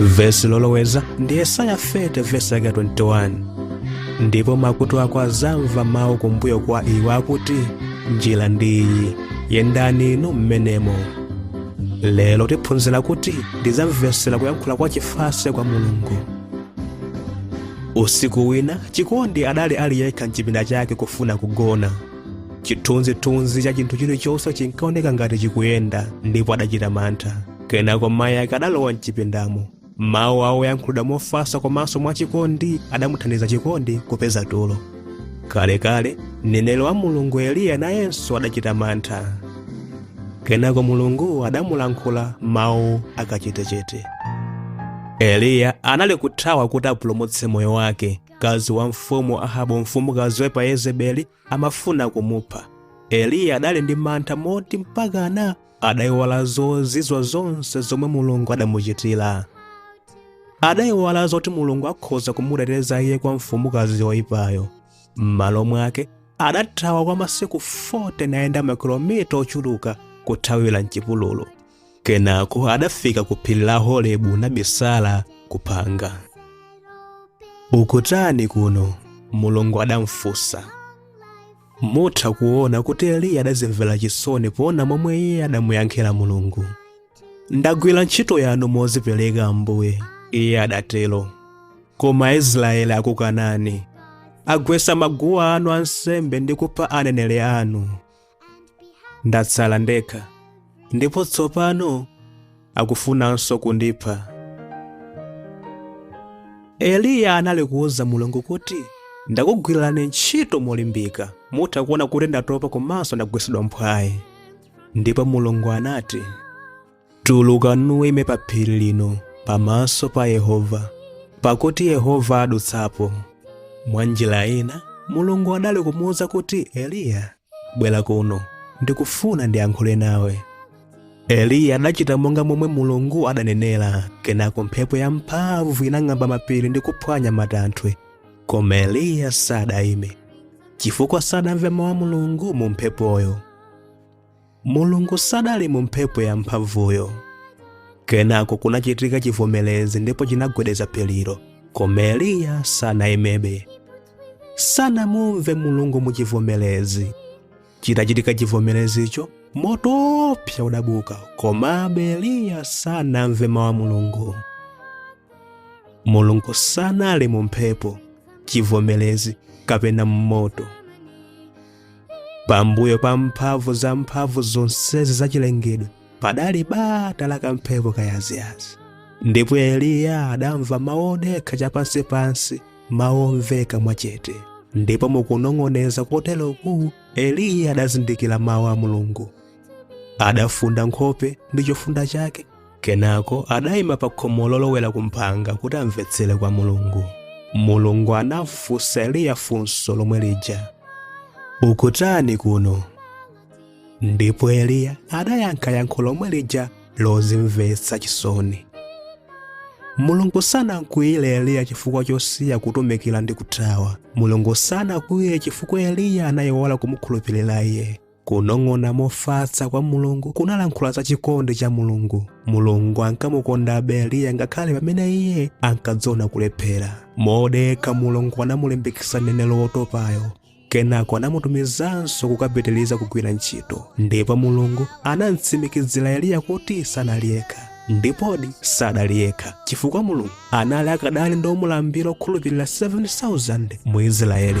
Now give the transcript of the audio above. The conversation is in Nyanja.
vesi loloweza ndi yesaya 30 vesi yake 21 ndipo makutu ako azamva mawu kumbuyo kwa iwe akuti njira ndi iyi yendani inu mmenemo lero tiphunzira kuti ndizamvetsera kuyankhula kwa chifatse kwa mulungu usiku wina chikondi adali ali yekha mchipinda chake kufuna kugona chithunzithunzi cha chinthu chilichonse chinkaoneka ngati chikuyenda ndipo adachita mantha kenako mayi ake adalowa mchipindamo mawu awo oyankhulidwa mofatsa komanso mwachikondi adamuthandiza chikondi kupeza tulo kalekale mneneri wa mulungu eliya nayenso adachita mantha kenako mulungu adamulankhula mawu akachetechete eliya anali kuthawa kuti apulumutse moyo wake mkazi wa mfumu ahabu mfumukazi woipa yezebeli amafuna kumupha eliya adali ndi mantha moti mpakana adaiwala zozizwa zonse zomwe mulungu adamuchitira adaiwala zoti mulungu akhoza kumuteteza iye kwa mfumukazi yoyipayo m'malo mwake adathawa kwa masiku 40 nayenda makilomita ochuluka kuthawira mchipululu kenako adafika ku phiri la horebu nabisala kuphanga ukutani kuno mulungu adamfunsa Mutha kuona kuti Eliya adazimvera chisoni poona momwe iye adamuyankhira Mulungu. Ndagwira ntchito yanu mozipereka Ambuye, iye adatero. Koma Aisraeli akukanani. Agwetsa maguwa anu ansembe ndi kupha aneneri anu. Ndatsala ndekha. Ndipo tsopano akufunanso kundipha. Eliya anali kuuza Mulungu kuti, Ndakugwirani ntchito molimbika, mutha kuona kuti ndatopa komanso ndagwetsedwa mphwayi. Ndipo Mulungu anati, Tuluka nuime pa phiri lino pamaso pa Yehova, pakuti Yehova adutsapo. Mwa njira ina, Mulungu anali kumuuza kuti, Eliya, bwera kuno, ndikufuna ndiyankhule nawe. eliya adachita monga momwe mulungu adanenera kenako mphepo yamphamvu inang'amba mapiri ndi kuphwanya matanthwe koma eliya sadayime chifukwa sadamve mawu a mulungu mu mphepoyo mulungu sadali mu mphepo yamphamvuyo kenako kunachitika chivomerezi ndipo chinagwedeza phirilo koma eliya sanayimebe sanamumve mulungu mu chivomerezi Chitachitika chivomerezicho, moto woopsa udabuka, komabe Eliya sanamve mawu a Mulungu. Mulungu sanali mu mphepo, chivomerezi kapena m'moto. Pambuyo pa mphamvu zamphamvu zonsezi zachilengedwe, padali bata la kamphepo kayaziyazi ndipo eliya adamva mawu odekha chapansipansi mawu omveka mwachete ndipo mukunong'oneza koteroku eliya adazindikira mawu a mulungu adafunda nkhope ndi chofunda chake kenako adayima pa khomo lolowera kumphanga kuti amvetsere kwa mulungu mulungu anamfunsa eliya funso lomwe lija ukutani kuno ndipo eliya adayankha yankho lomwe lija lozimvetsa chisoni mulungu sanakwiyire eliya chifukwa chosiya kutumikira ndi kuthawa mulungu sanakwiyire chifukwa eliya anayiwala kumukhulupirira iye kunong'ona mofatsa kwa mulungu kunalankhula za chikondi cha mulungu mulungu ankamukondabe eliya ngakhale pamene iye ankadziona kulephera modekha mulungu anamulimbikitsa mneneri wotopayo Kenako anamutumizanso kukapitiriza kugwira ntchito, ndipo Mulungu anam'tsimikizira Eliya kuti sanali yekha. Ndipodi sadali yekha, chifukwa Mulungu anali akadali ndi omulambira okhulupirira 7,000 mu Isiraeli.